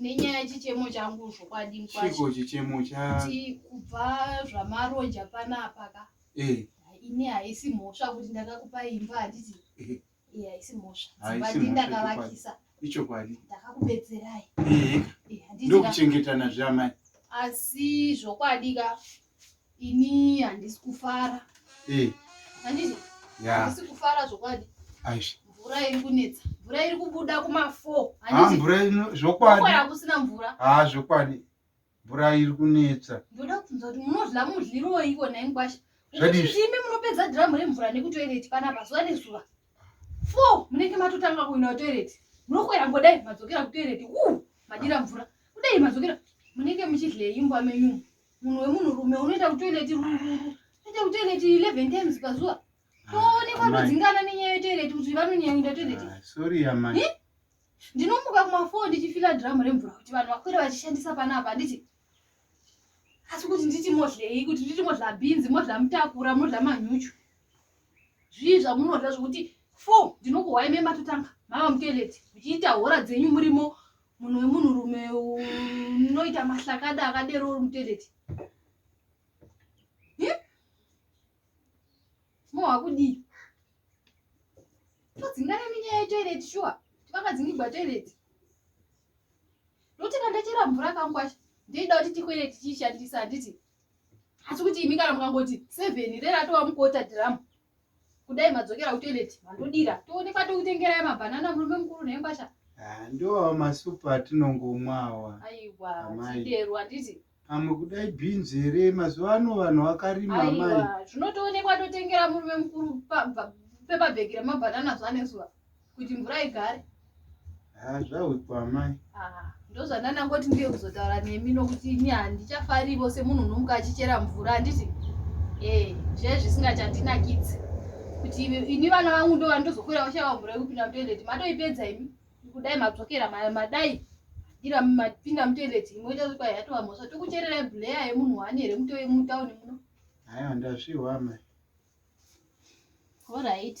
nenyaya chichemo changu zvokwadi mkwachiko chichemo chati kubva zvamaronja panapa ka eh. ini haisi mhosva kuti ndakakupa imba handiti eh. eh, haisi mhosva dzimbati ndakavakisa ichokwadi ndakakubetserai ndokuchengetana zveamai asi zvokwadi ka ini handisi kufara eh. handizvo handisi kufara zvokwadi mvura iri kunetsa mvura iri kubuda kumafo ah, mvura ino zvokwadi hakusina mvura ha ah, zvokwadi mvura iri kunetsa ndoda kubvunza kuti munodla mudliroi ikona inkwasha zvadizvimi munopedza dhiramu remvura nekutoireti panapa zuva nezuva fo munenge matotanga kuina toireti munokwera ngodai madzokera kutoireti u madira mvura kudai madzokera munenge muchidhleyimbwa menyumu munhu wemunhu rume unoita kutoileti rururu unoita kutoileti 11 times pazuva toonekwa todzingana nenyaya yetoileti kuti vanonyanyira toileti ah, sorry amai eh? ndinomuka kumafoo ndichifila dhiramu remvura kuti vanhu vakwira vachishandisa panapa handiti asi kuti nditi modhlei kuti nditi modhla bhinzi modhla mutakura modhla manyuchu zvii zvamunodhla zvokuti fo ndinokuhwai mematotanga mava mutoileti muchiita hora dzenyu murimo munhu wemunhu rume unoita mahlakada akadero uri mutoilet mohakudii todzingane minyaya yetoilet shuwa tivakadzingigwa toilet ndokuti kandachera mvura kangu kwacho ndoida kuti tikwere tichishandisa handiti asi kuti imi kana mukangoti seven reratova mukota dhiramu kudai madzokera kutoilet mandodira toonekwa tokutengerai mabhanana murume mukuru nhenkwasha ah, ndoawa masupa atinongomwa awa aiwa tidero handiti pamwe kudai bhinzi here mazuva ano vanhu vakarima amai zvinotoonekwa totengera murume mukuru pepabhegi remabhanana zvanezuva kuti mvura igare ah, zvaudzwa amai ah, ndozvandanangoti ndiye kuzotaura nemi nokuti ini handichafarivo semunhu unomuka achichera mvura handiti e eh, zve zvisingachandinakidzi kuti ini vana vangu ndo vandozokwira vashava mvura yekupinda mutoileti matoipedza imi kudai madzokera madai ira mapinda mutoileti imwe ichazokwa yatova mhosva tokuchererai bleya yemunhu wani here mutauni muno haya ndazvihwa mai All right.